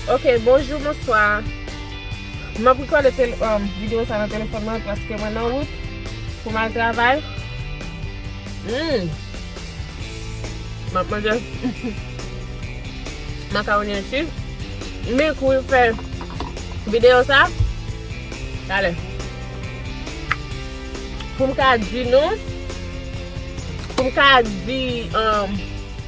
Ok bonjou bonswa M ap rekòde videyo sa nan telefòn mwen paske mwen nan wout pou m al travay Humm M ap manje Makawoni an tu Men kou yo fè videyo sa Talè Pou m ka di nou Pou m ka di Humm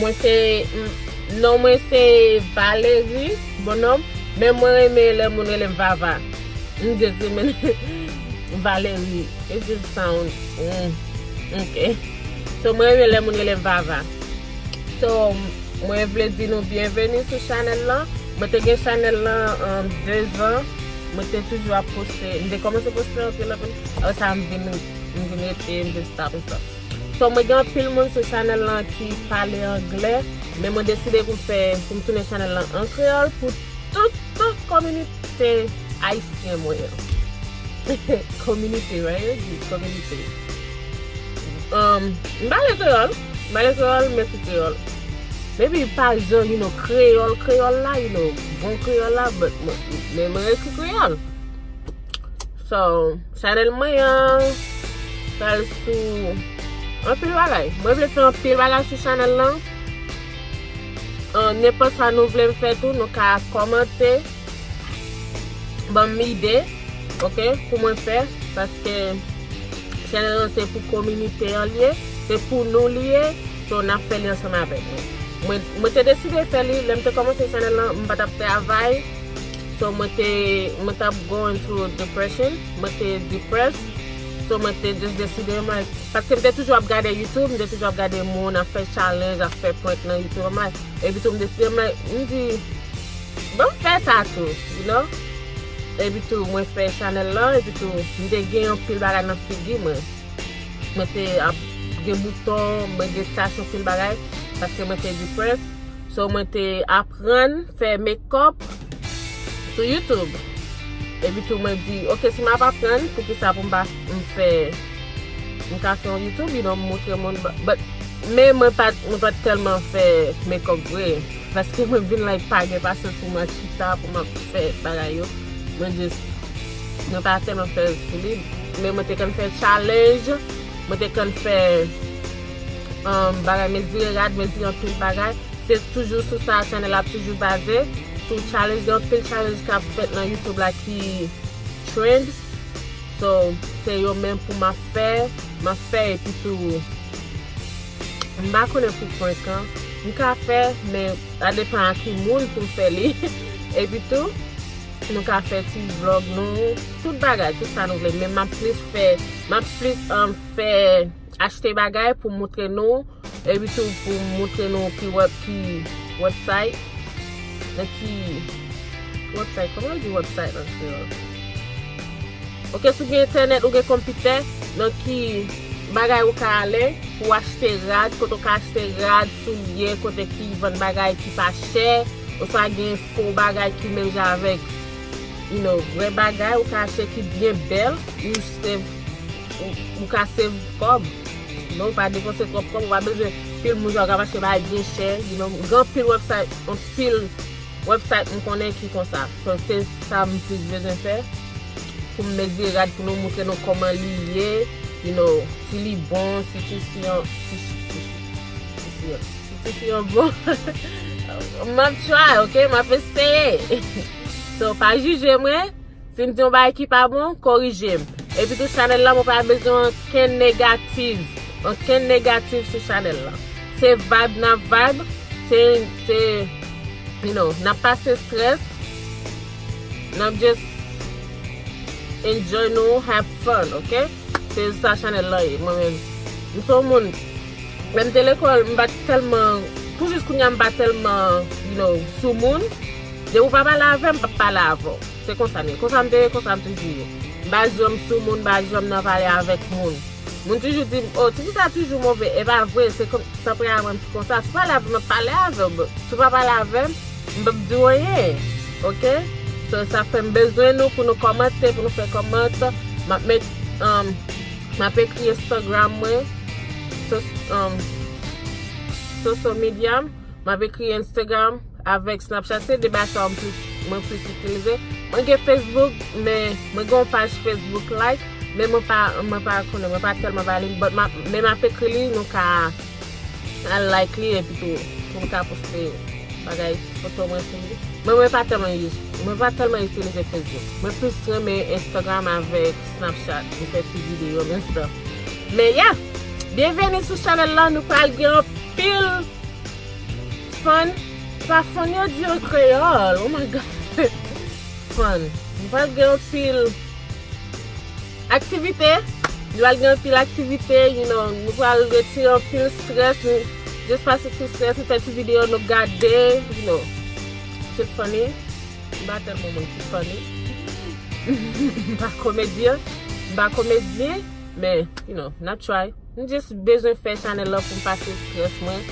Mwen se non mwen se valery bon nom men mwen renmen lè moun relem vava m just renmen valery it just sound ok so mwen renmen lè moun relem vava so mwen vle di nou byenveni sou chanèl lan mwen te gen chanèl lan 2 zan mwen te toujou ap poste m te kòmanse poste anpil anpil apresa m vin rete m vin stop m stop. So mwen gen anpil moun sou chanèl lan ki pale anglè, men mwen deside pou m fè, pou m tounen chanèl lan an kreyòl pou tout tout kominite ayisyen mwen an. Kominite right yo di, kominite. M pale kreyòl, m pale kreyòl, m ekri kreyòl. Maybe pa jan you know kreyòl kreyòl la, you know bon kreyòl la but mwen ekri kreyòl. So chanel mwen an pral sou anpil bagay. Mwen vle fè anpil bagay sou chanel lan. Nenpòt sa nou vle m fè tou nou ka kòmante banm ide ok pou mwen fè paske chanel lan se pou kominite an li ye, se pou nou li ye so n ap fè li ansanm avèk nou. Mwen te deside fè li lè m te kòmanse chanel lan m pa t ap travay. So mwen te, mwen tap going through depression, mwen te depress, so mwen te just deside m like, paske m te toujou ap gade youtube, m te toujou ap gade moun ap fè challenge, ap fè prank nan youtube, I'm like, epi tou m deside m like, m di, banm fè sa tou, you know, epi tou mwen fè chanèl lan, epi tou m te gen yon pil bagay nan figi mwen, mwen te ap gen bouton, mwen gen tach yon pil bagay, paske mwen te depress, so mwen te ap. prann fè mekòp sou youtube epi tou mwen di ok si m ap aprann poukisa pou m pa fè m ka fè yon youtube you know m montre moun but men mwen pa t tèlman fè mekòp vre paske mwen vin la e pa gen pasyans pou mwen chita pou m ap fè bagay yo mwen jis mwen pa tèlman fè l sou li men mwen te konn fè challenge mwen te konn fè bagay mezire rad, mezire anpil bagay. Se toujou sou sa chanèl la ap toujou baze. Sou challenge, gen anpil challenge k ap fèt nan YouTube la ki trend. So, se yo menm pou m ap fè. M ap fè epi tou, m pa konnen pou prank an. M ka fè, men sa depan a ki moun pou m fè li. Epi tou, nou ka fè ti vlog nou, tout bagay, tout sa nou vle. Men m ap plis fè, m ap plis fè. achte bagay pou moutre nou epitou pou moutre nou ki website nan ki website kòman yo di website an kreyòl ok sou gen entènèt ou gen konpitè nan ki bagay ou ka ale pou achte rad kote ou ka achte rad soulye kote ki vann bagay ki pa chè oswa gen fo bagay ki menm jan avèk you know vre bagay ou ka achte ki byen bèl. Ou ka save kòb men ou pa depanse twòp kòb ou pa bezwen pil moun sa ou ka mache bay byen chè gen anpil website anpil website m konnen ki konsa so se sa m plis bezwen fè poum mezire rad pou nou moutre nou kòman li ye you know si li bon si tisi an si tisi an bon map try ok map eseye so pa jije mwen. Sim di yon bagay ki pa bon, korijem. Epitou chanèl la mwen pa bezwen ankenn negativ, ankenn negativ sou chanèl la. Se vibe nap vibe, se, se, you know, nap pase stress, nap just enjoy nou, have fun, ok? Se sa chanèl la ye, mwen menm. M se yon moun, lèm te lekòl m pat tèlman, pou jis kounya m pa tèlman, you know, sou moun. Lè ou pa pale avè m, m pap pale avè w. Se konsa m ye. Konsa m te ye, konsa m toujou ye. M pa janm sou moun, m pa janm nan pale avèk moun. Moun toujou di m, o, tifi sa toujou move. E pa vre, se kon, tanperaman m ki konsa. Si w pale avè m, m ap pale avè w. Si w pa pale avè m, m pap di w anyen. Ok? So, sa fè m bezwen nou pou nou kòmante, pou nou fè kòmant. M ap met, um, m ap ekri Instagram mwen, so, um, social media m. Map ekri Instagram avèk Snapchat se 2 bagay sa yo mwen plis itilize. Mwen gen Facebook men mwen gen yon paj Facebook like men mwen pa mwen pa konnen mwen pa tèlman ba li but map men map ekri li nou ka al like li epi tou pou m ka poste bagay foto mwen sou li. Men mwen pa tèlman use mwen pa tèlman itilize Facebook. Mwen plis renmen Instagram avèk Snapchat pou fè ti video gen stuff. Men ya! Byenveni sou chanèl la, nou pral gen anpil fun. Pa fun yo di an kreyòl, oh my God! Fun. Nou pral gen anpil aktivite, nou pral gen anpil aktivite, you know, nou pral retire anpil stress, nou just pase ti stress, nou fè ti video, nou gade, you know. Tip funny. M pa tèlman moun ki funny. M pa komedyen. M pa komedyen. Men, you know, n ap try. M just bezwen fè chanèl lan pou m pase stress mwen.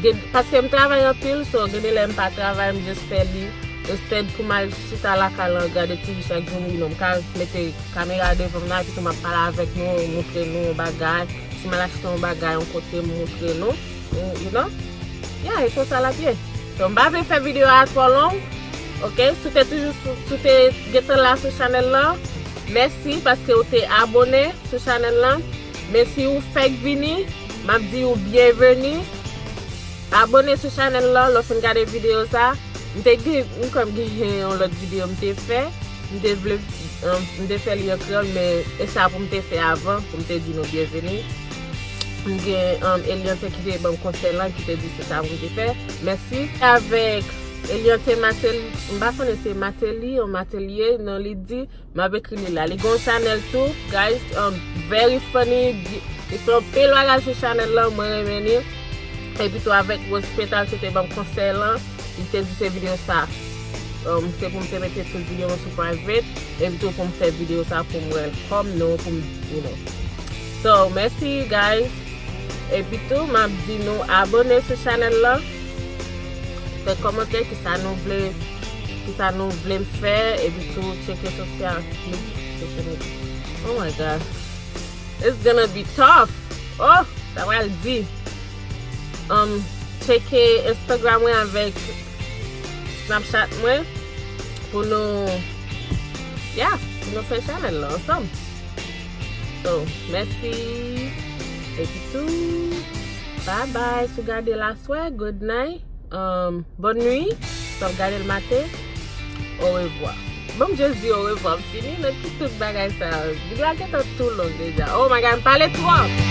Gen, paske m travay anpil, so gen de lè m pa travay, m just fè li. Instead pou m al chita lakay lan gade TV chak jou, you know, m ka mete kamera devan m nan epi tou m ap pale avèk nou, montre nou yon bagay. Si m al achte yon bagay yon kote, m montre nou. You know Yeah e konsa lap ye. So m pa vle fè video a twò long ok si w te toujou si w te gentan la sou chanèl lan mèsi paske ou te abone sou chanèl lan men si ou fèk vini map di ou byenveni abone sou chanèl lan lè w fin gade video sa m te gen m kwè m gen yon lòt video m te fè m te vle m te fè li an kreyòl men e sa pou m te fè avan pou m te di nou byenveni. M gen Eliante ki te banm konsèy lan ki te di se sa pou m te fè. Mèsi. Avèk Eliante Mateli, m pa konnen se Mateli ou Matelie non li di, m ap ekri li la. Li gen yon chanèl tou guys, very funny, li fè anpil bagay sou chanèl lan, mwen renmen li. Epi tou avèk Rose Petal ki te banm konsèy lan, li te di se videyo sa se pou m te mete tout videyo mwen sou private, epi tou pou m fè videyo sa pou m wè l kòm nou, pou m you know. So mèsi you guys epi tou map di nou abone sou chanèl lan fè kòmantè kisa nou vle kisa nou vlem fè epi tou tcheke sosyal media oh my god it's gonna be tough oh sa pral di um tcheke instagram mwen avèk snapchat mwen pou nou yeah pou nou fè chanèl lan ansanm. Oh mèsi epitou bye bye sou gadel aswè good night um bonne nuit si wap gadel maten au revoir banm just di au revoir m fini met pou tout bagay sa yo video a gentan two long deja oh my god m pale twòp.